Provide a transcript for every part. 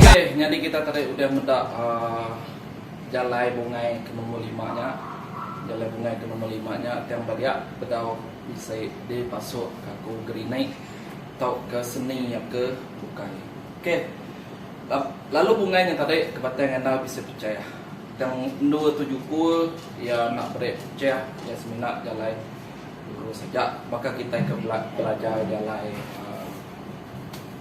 Okey nyadi kita tadi udah meda aaa jalai bungai ke nombor lima nya. Jalai bungai ke nombor lima nya tang ba dia bedau bisi di pasu kaku gerinik tauka seni aka bukai. Okey. Lalu bungai nya tadi ke batai ngandal bisi pechayah. Tang endur tu juku iya enda meri pechayah iya semina jalai guru saja baka kitai ke belajar jalai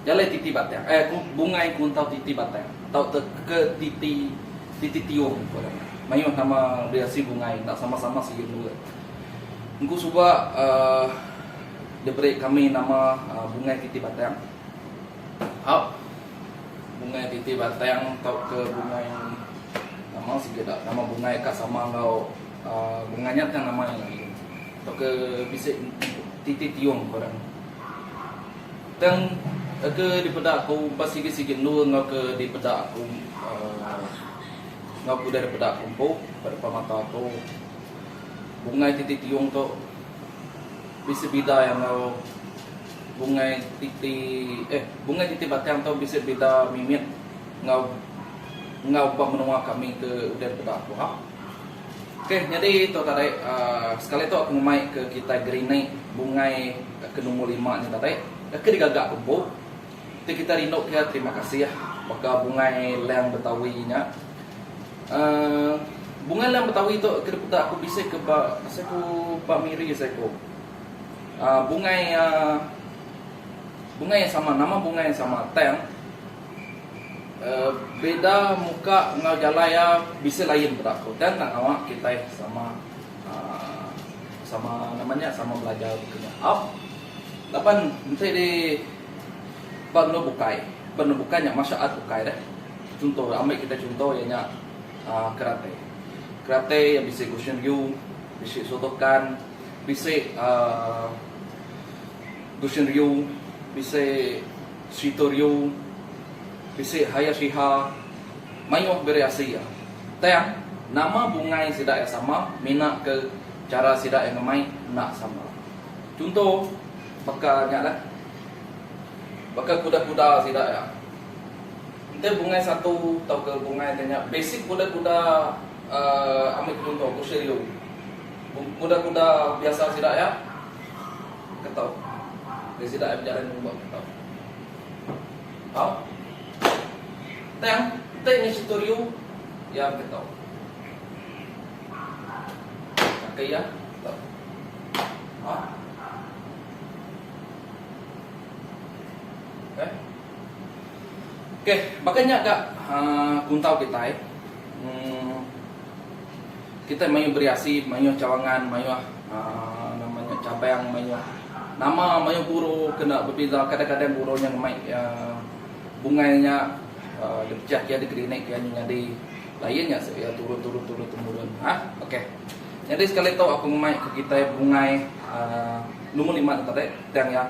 jalai titi batang eh bungai kuntau titi batang tau ke titi titi tiung ku orang nya. Mayuh nama bisi bungai enda sama-sama sigi endur. Engku suba uhh diberi kami nama bungai titi batang. Up bungai titi batang tauka bungai nama sigi dak nama bungai ka sama enggau bungai nya tang nama nya agi tauka bisi titi tiung ngaran ne. Tang ke dipeda ku ba sigi sigi endu enggau ke dipeda ku uhh enggau ke udah dipeda ku empu ba depan mata aku bungai titi tiung tu bisi bida iya enggau. Bungai titi eh bungai titi batang tu bisi bida mimit enggau enggau ba menua kami ke udah peda aku ha. Ok nyadi tu tadi aaa sekali tu aku ngemai ke kitai gerinik bungai ke nombor lima nya tadi ke digaga ke empu ti kitai rindu ke terima kasih baka bungai lang betawi nya aaa bungai lang betawi tu ke dipeda aku bisi ke ba seiku ba miri seiku. bungai bungai yang sama nama bungai yang sama tang beda muka enggau jalai iya bisi lain peda aku tang enda ngawa kitai sama sama nama nya sama belajar bup inya au laban enti di ba benua bukai ba benua bukai nya martial art bukai deh chunto ambi kita chunto iya nya karate karate bisi goshin ryu bisi sotokan. Bisi Dusun Riu, bisi Serita Riu, bisi Haya Sriha mayuh biri asi iya. Tang, nama bungai sida iya sama mina ke chara sida iya ngemai enda sama. Chunto baka nya lah, baka kuda-kuda sida iya. Enti bungai satu tauka bungai ti nya basic kuda-kuda ambi chunto Dusun Riu. Kuda-kuda biasa sida iya ketau. Nya sida iya bejalai mengumba ketau. Tau? Tang, enti nya situ riu, iya beketau. Kaki iya ketau. Ha? Okay. Okay, baka nya ga uh, kuntau kitai. Hmm. Kitai mayuh beri asi, mayuh cawangan, mayuh nama nya cabang, mayuh nama, mayuh guru kena bebeza. Kadang-kadang guru nya ngemai bungai nya dipejah kiya degree naik kiya nyu nyadi lain nya sik iya turun turun turun temurun ha ok. Nyadi sekali tu aku ngemai ke kitai bungai nombor lima tu tadi tang iya.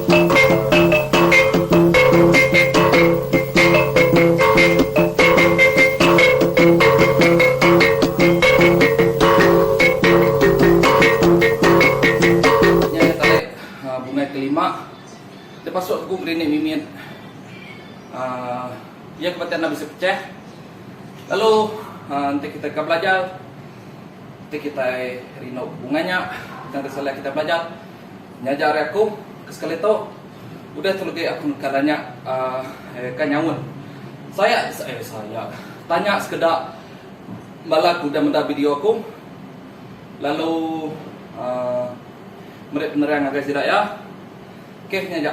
Nya iya tarik bungai kelima. Dia pasuk teku berinik mimit. Aaa iya ke bati anda bisi pechah. Lalu aaa enti kitai ka belajar, enti kitai rindu bungai nya, tang disalai kitai belajar. Nyaja ari aku ke sekali tu udah tu legi aku neka tanya uhh ka nyaun saya eh saya tanya sekeda bala ke udah meda video aku lalu uhh meri penerang ngagai sida iya. Okey nya aja.